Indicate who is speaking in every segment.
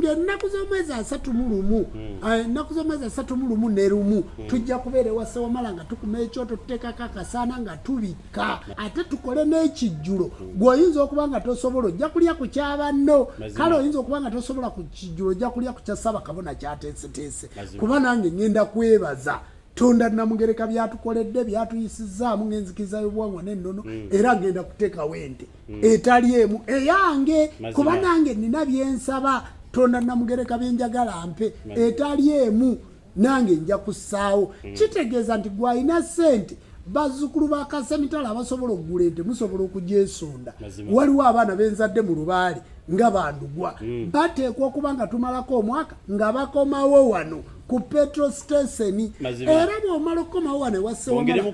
Speaker 1: ng'ennaku z'omwezi asatu mu lumu hmm. ah, ennaku z'omwezi asatu mu lumu ne lumu hmm. tujja kubeera ewa ssewamala nga tukuma ekyoto tuteekako akasaana nga tubikka ate tukole n'ekijjulo hmm. gwe oyinza okuba nga tosobola ojja kulya ku kyabanno kale oyinza okuba nga tosobola ku kijjulo ojja kulya ku kya saba kabona kyateeseteese kuba nange ngenda kwebaza tonda namugereka byatukoledde byatuyisizaamu ng'enzikiriza y'obuwangwa n'ennono era ngenda kuteekawo ente mm. etali emu eyange kuba nange nina byensaba tonda namugereka byenjagala mpe etali emu nange nja kusaawo mm. kitegeeza nti gwalina sente bazzukulu ba kasemitala abasobola okugula ente musobola okugyesonda waliwo abaana benzadde mu lubaale nga bandugwa mm. bateekwa okuba nga tumalako omwaka nga bakomawo wano ku petro station era bwomala okukomawo wano ewasewamala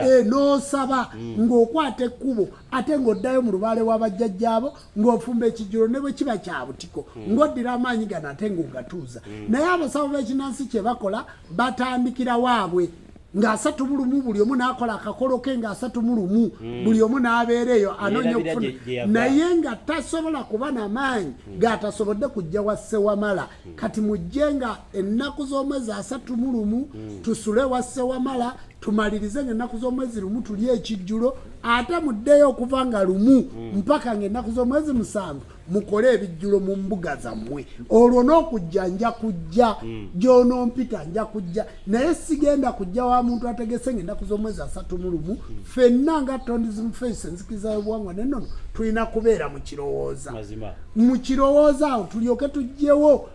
Speaker 1: eh, nosaba mm. ngaokwata ekkubo ate ng'oddayo mu lubaale wa bajjajjaabo ng'ofumba ekijjulo ne bwe kiba kya butiko hmm. ng'oddira amaanyi gano ate ng'ogatuuza hmm. naye abasawo b'ekinansi kye bakola batandikira waabwe ng'asatu mu lumu buli omu n'akola akakolo ke ng'asatu mu lumu hmm. buli omu n'abeera eyo anoonya okufuna naye nga tasobola kuba na maanyi g'atasobodde kujja wa ssewamala Hmm. kati mujje nga ennaku z'omwezi asatu mu lumu hmm. tusule wa ssewamala tumalirize nga ennaku z'omwezi lumu tuli ekijjulo ate muddeyo okuva nga lumu hmm. mpaka nga ennaku z'omwezi musanvu mukole ebijjulo mu mbuga zammwe olwo n'okujja nja kujja gy'onompita nja kujja naye sigenda kujja wa muntu ategese nga ennaku z'omwezi asatu mu lumu fenna nga tondism face enzikiriza y'obuwangwa naye nono tulina kubeera mu kirowooza mu kirowooza awo tulyoke tujjewo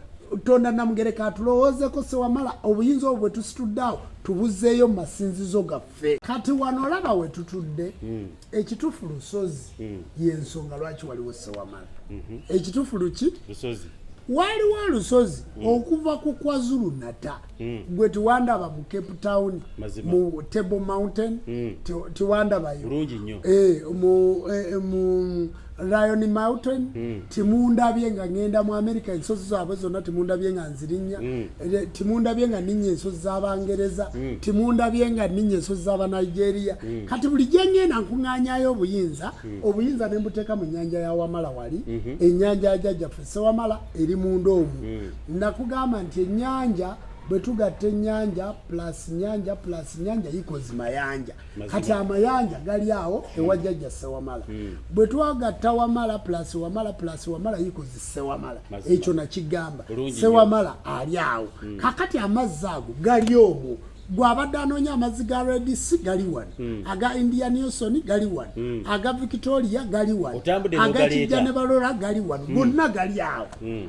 Speaker 1: tonda namugereka atulowoozeko sewamala obuyinza obwo bwetusitudde awo tubuzeeyo mu masinzizo gaffe kati wano olaba wetutudde mm. ekitufu lusozi mm. yensonga lwaki waliwo sewamala mm -hmm. ekitufu luki lusozi waliwo olusozi mm. okuva ku kwazulu nata mm. gwe tiwandaba mu cape town Mazima. mu table mountain mm. tiwandabayo e, mu, e, mu Lion Mountain mm. timundabye nga ngenda mu America ensozi zaabwe zonna timundabye nga nzirinnya mm. Eh, timundabye nga ninnya ensozi z'Abangereza mm. timundabye nga ninnya ensozi z'Abanigeria mm. kati buli gye ngenda nkuŋŋaanyayo obuyinza mm. obuyinza ne mbuteeka mu nnyanja ya Wamala wali mm -hmm. ennyanja ya Jajjaffe Ssewamala eri munda omu mm. nakugamba nti ennyanja bwe tugatta ennyanja plus nnyanja plus nnyanja yikozi mayanja kati amayanja gali awo hmm. ewa jajja sewamala hmm. bwe twagatta wamala plus wamala plus wamala yikozi sewamala ekyo nakigamba sewamala ali awo hmm. kakati amazzi ago gali omwo gwabadde anoonya amazzi ga redc gali wano mm. aga india newson gali wano mm. aga victoria gali wano aga kijja ne balora gali wano hmm. gonna mm. gali awo mm.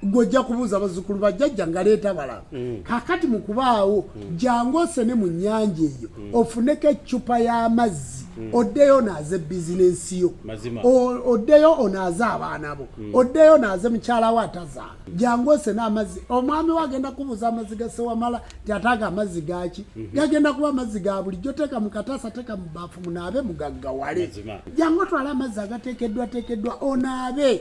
Speaker 1: gwe ojja kubuuza bazzukulu ba jjajja nga leeta bala mm. kakati mu kubaawo mm. jangu osene mu nnyanja eyo mm. ofuneko eccupa y'amazzi oddeyo onaaze bizinensi yo oddeyo onaaze abaana bo oddeyo onaaze mukyala wo atazaala jangu osene amazzi omwami we agenda kubuuza amazzi gasewamala ti ataaga amazzi gaki mhm. gagenda kuba amazzi ga bulijjo teeka mu kataasa teeka mu baafu munaabe mugaggawale jangu otwale amazzi agateekeddwateekeddwa onaabe